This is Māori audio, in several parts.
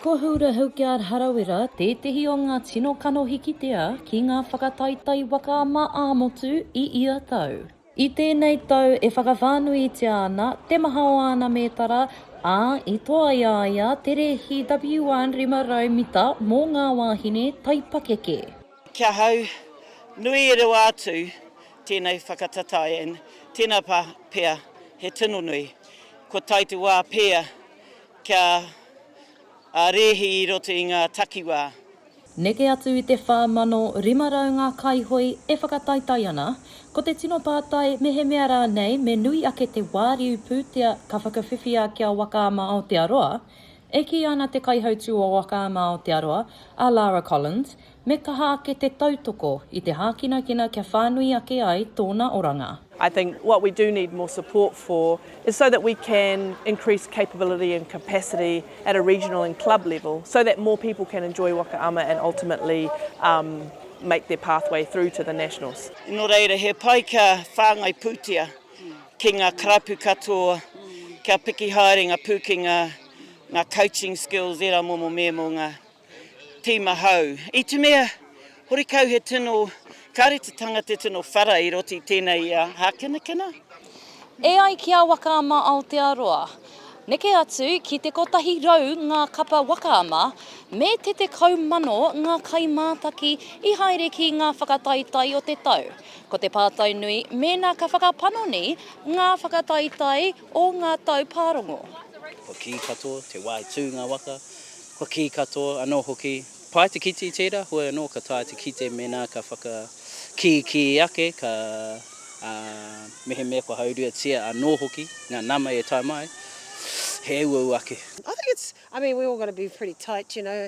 Ko Hura Hilkyard Harawira tētehi o ngā tino kanohi kitea ki ngā whakataetae waka mā ā-motu i ia tau. I tēnei tau e whakawhānuitia ana te maha o āna mētara, ā, i toa i a ia te rēhi WR500 mita mō ngā wāhine taipakeke. Ki ahau, nui e rewa atu tēnei whakatatai and tēnā pā pea he tino nui. Kua tae te wā pēa kia rēhi i roto i ngā takiwā. Neke atu i te 4,500 ngā kaihoe e whakataetae ana, ko te tino pātai mehemea rānei me nui ake te wāriu pūtea ka whakawhiwhia ki a Waka ama Aotearoa, E kī ana te kaihautū o Waka mā Aotearoa, a Lara Collins, me kaha ake te tautoko i te hākinakina kia whānui ake ai tōna oranga. I think what we do need more support for is so that we can increase capability and capacity at a regional and club level so that more people can enjoy Waka ama and ultimately make their pathway through to the nationals. Nō reira, he pai kia whāngai pūtea. ki nga karapu katoa kia piki haere nga pukenga, nga coaching skills era momo me mo nga tima hou. I te mea, horikau he tino, kare te tanga te tino whara i roti tena ia hakinakina. E ai ki a Waka Ama Aotearoa, neke atu ki te kotahi rau nga kapa waka ama, me te tekau mano nga kaimātaki i haere ki nga whakataetae o te tau. Ko te pātai nui, mēnā ka whakapanoni ngā whakataetae o ngā tau pārongo. Kua kī katoa, te wā i tū ngā waka, kua kī katoa anō hoki, pai te kite i tērā, heoi anō ka taea te kite mēnā ka whakakīkī ake, ka, ā, mehemea kua hauruatia anō hoki ngā nama e tae mai, he uaua ake. I think it's, I mean, we're all going to be pretty tight, you know,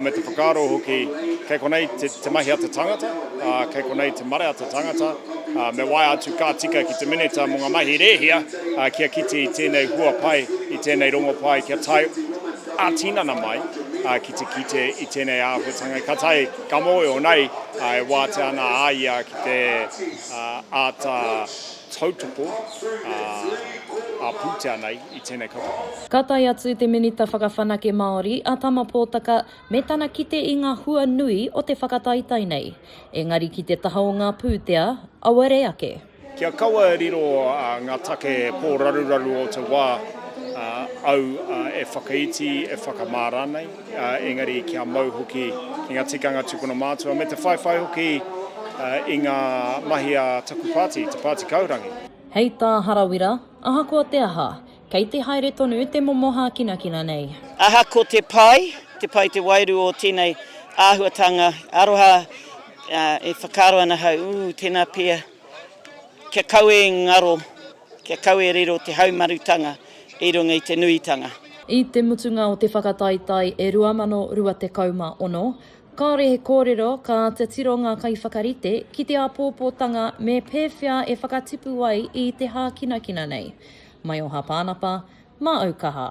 Me te whakaaro hoki, kei konei te mahi a te tangata, kei konei te marea a te tangata, me waea atu ka tika ki te Minita mō ngā mahi rēhia kia kite i tēnei hua pai, i tēnei rongo pai kia tae ā-tinana mai ki te kite i tēnei āhuatanga. Ka tae, ka mōhio nei e wātea ana a ia ki te āta tautoko ā-pūtea nei. i tēnei kapa. Ka tae atu te Minita Whakawhanake Māori, a Tama Potaka, me tana kite i ngā hua nui o te whakataetae nei, engari ki te taha o ngā pūtea, auare ake. Kia kaua e riro ngā take pōraruraru o te wā, au e whakaiti, e whakamā rānei, engari kia mau hoki ki ngā tikanga tupuna mātua, me te whaiwhai hoki i ngā mahi a taku pāti, Te Pāti Kaurangi. Hei tā Harawira, ahakoa te aha, kei te haere tonu te momo hākinakina nei. Ahakoa te pai, te pai te wairua o tēnei āhuatanga aroha, e whakaaro ana ahau, ū, tēnā pea, kia kaua e ngaro, kia kaua e riro te haumarutanga i runga i te nuitanga. I te mutunga o te whakataetae e 2026, Kāore he kōrero ka āta tiro ngā kaiwhakarite ki te āpōpōtanga me pēwhea e whakatipu ai i te hākinakina nei. Mai o Hāpānapa, mā Aukaha.